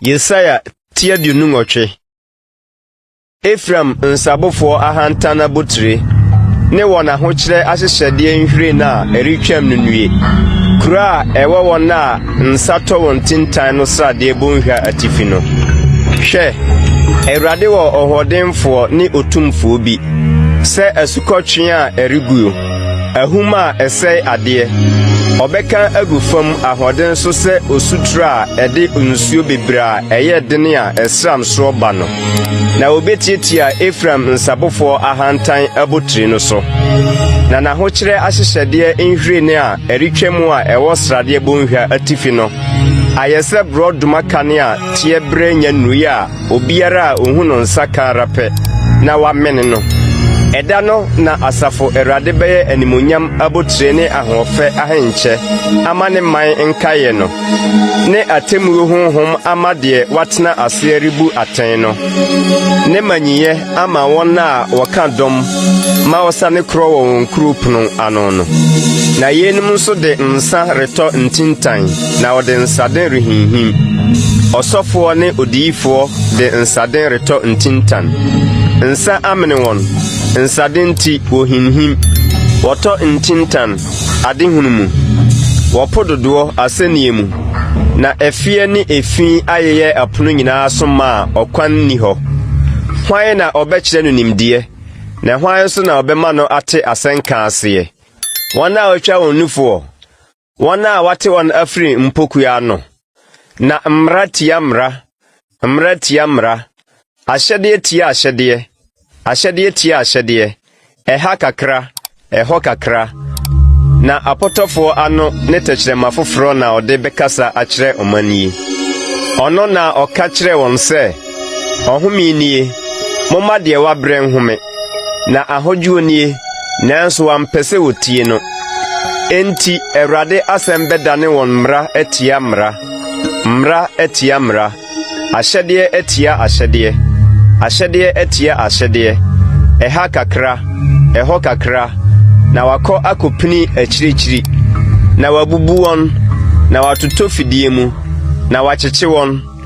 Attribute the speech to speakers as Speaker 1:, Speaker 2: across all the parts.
Speaker 1: Yesaia ti aduonu nwɔtwe Efraim nsabofoɔ ahantan abotire ne wɔn ahokyerɛ ahyehyɛdeɛ nhwiren a ɛretwam no nnue. Kuro a ɛwɔ wɔn a Nsa tɔ wɔ ntintan no sradeɛ bɔnhwa atifi no. Hwɛ! Awurade wɔ ɔhoɔdenfoɔ ne otumfoɔ bi, sɛ asukɔtwe a ɛreguo, ahum a ɛsɛe adeɛ. Ɔbɛka agu fam ahoɔden so sɛ osutire a ɛde nsuo bebree a ɛyɛ den a ɛsram soɔ ba no, na obetiatia Efraim nsabofoɔ ahantan abotiri no so, na n'ahokyerɛ ahyehyɛdeɛ nhwiren a ɛretwam a ɛwɔ Sradeɛ Bɔnhwa atifi no ayɛ sɛ borɔdoma kane a teɛ berɛ nya nnui a obiara a ɔhu no nsa ka ara pɛ na wamene no. Ɛda no na Asafo Awurade bɛyɛ animuonyam abotire ne ahoɔfɛ ahenkyɛ ama ne man nkaeɛ no, ne atemmuo honhom ama deɛ watena aseɛ rebu atɛn no, ne manyinyɛ ama wɔn a wɔka dɔm ma wɔsane korɔ wɔ wɔn kurow pono ano no. Na yeinom nso de nsa retɔ ntintan, na wɔde nsaden rehinhim. Ɔsɔfoɔ ne odiyifoɔ de nsaden retɔ ntintan. Nsa amene wɔn, nsaden nti wɔhinhim, wɔtɔ ntintan. Ade hunu mu, wɔ po dodoɔ asɛnniɛ mu, na ɛfeɛ ne efi ayeyɛ ɛpono nyinaa so ma a ɔkwan nni hɔ. Hwan na ɔbɛkyerɛ no nimdeɛ, na hwan nso na ɔbɛma no ate asɛnka aseɛ? Wɔn a wɔatwa wɔn nufoɔ, wɔn a wɔate wɔn afiri mpokuwa ano. Na mmara tia mmara, mmara tia mmara, ahyɛdeɛ tia ahyɛdeɛ, ahyɛdeɛ tia ahyɛdeɛ, ɛha kakra, ɛhɔ kakra, na apɔtɔfoɔ ano ne tɛkyerɛma foforɔ na ɔde bɛkasa akyerɛ ɔman yi. Ɔno na ɔka kyerɛɛ wɔn sɛ, Ɔhome nie, momma deɛ wabrɛ nhome. Na ahodwoɔ nie, nanso wɔampɛ sɛ wɔtie no. Enti Awurade asɛm bɛdane wɔn mmara atia mmara, mmara atia mmara, ahyɛdeɛ atia ahyɛdeɛ, ahyɛdeɛ atia ahyɛdeɛ, ɛha kakra, ɛhɔ kakra, na wakɔ akɔpini akyirikyiri, na wabubu wɔn, na watotɔ fidie mu, na wakyekye wɔn.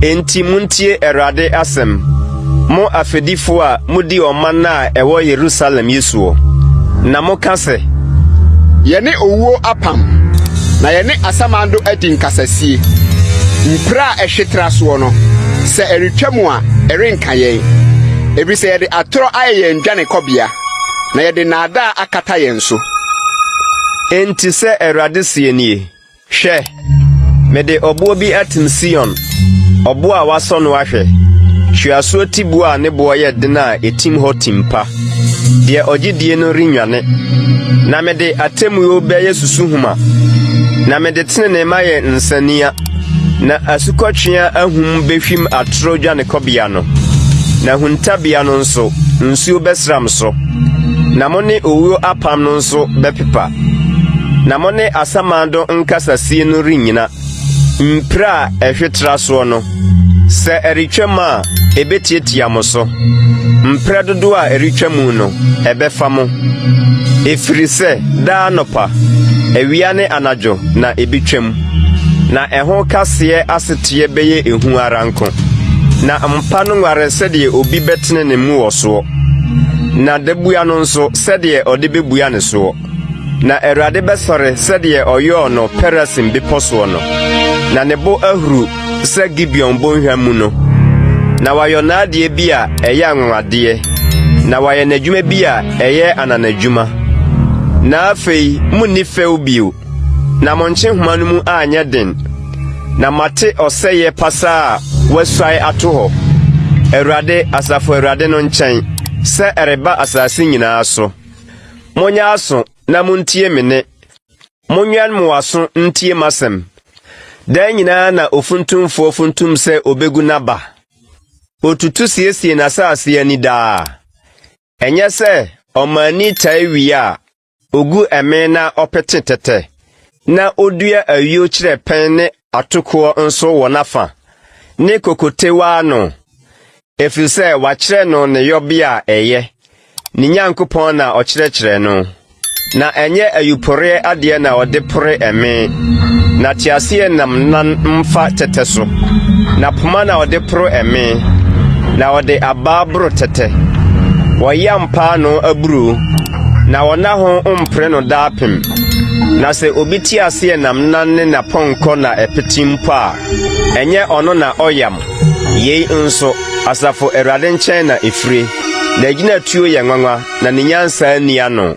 Speaker 1: Enti muntie Awurade asɛm, mo afɛdifo a mudi ɔman a ɛwɔ Yerusalem yi soɔ, na moka sɛ. Yɛne
Speaker 2: owuo apam, na yɛne asamando adi nkasasie. Mpire a ɛhwe tra soɔ no, sɛ ɛretwam a, ɛrenka yɛn. Efisɛ yɛde atorɔ ayɛ yɛn dwanekɔbea, na yɛde nnaadaa akata yɛn so.
Speaker 1: Enti sɛ Awurade seɛ nie. Hwɛ! Mede ɔboɔ bi atim Sion, ɔboɔ a wɔasɔ no ahwɛ, tweasoɔ tiboɔ a ne boɔ yɛ den a ɛtim hɔ tim pa. Deɛ ɔgye die no rennwane. Na mede atemmuo bɛyɛ susuhoma, na mede tenenee mayɛ nsania, na asukɔtweaa ahum bɛhwim atorɔ dwanekɔbea no, na huntabea no nso, nsuo bɛsram so, na mo ne owuo apam no nso bɛpepa. na mo ne asamando nkasasie no rennyina. Mpire a ɛhwe tra soɔ no, sɛ ɛretwam a, ɛbɛtiatia mo so. Mprɛ dodoɔ a ɛretwa mu no, ɛbɛfa mo. Ɛfiri sɛ daa anɔpa, awia ne anadwo na ɛbɛtwam, na ɛho kaseɛ aseteɛ bɛyɛ ehu ara nko. Na mpa no nware sɛdeɛ obi bɛtene ne mu wɔ soɔ, na dabua no nso, sɛdeɛ ɔde bɛbua ne soɔ. Na Awurade bɛsɔre sɛdeɛ ɔyɔɔ no Perasim bepɔ soɔ no, na ne bo ahuru sɛ Gibeon bɔnhwa mu no. Na wayɔ n'adeɛ bi a ɛyɛ anwanwadeɛ, na wayɛ n'adwuma bi a ɛyɛ ananadwuma. Na afei monni fɛw bio. Na mo nkyehoma no mu anyɛ den, na moate ɔsɛeɛ pasaa a wɔasuae ato hɔ, Awurade, Asafo Awurade no nkyɛn, sɛ ɛreba asase nyinaa so. Monyɛ aso na montie me nne, monwɛn mo aso ntie m'asɛm. Daa nyinaa na ofuntumfoɔ funtum sɛ ɔbɛgu n'aba, ɔtutu siesie n'asase ani daa. Ɛnyɛ sɛ ɔmaani tae wie a, Ogu ɛmee na ɔpete tɛtɛ, na odua ayuo kyerɛ pɛn ne atokoɔ nso wɔ n'afa, ne kokotewa ano, ɛfiri sɛ wakyerɛ no ne yɔbea a ɛyɛ, ne Nyankopɔn na ɔkyerɛkyerɛ no. Na ɛnyɛ ayuporeɛ adeɛ na ɔde pore ɛmee, na teaseɛnam nan mfa tɛtɛ so, na poma na ɔde poro ɛmee, na ɔde abaa boro tɛtɛ. Wɔyam paanoo aburoo. Na ɔnna ho mpere no daapem. Na sɛ obi te aseɛ nam nan ne n'apɔnkɔ na ɛpete mpo a, ɛnyɛ ɔno na ɔyam. Yei nso, Asafo Awurade nkyɛn na ɛfire. N'agyinatuo yɛ nwanwa, na ne nyansa nni ano.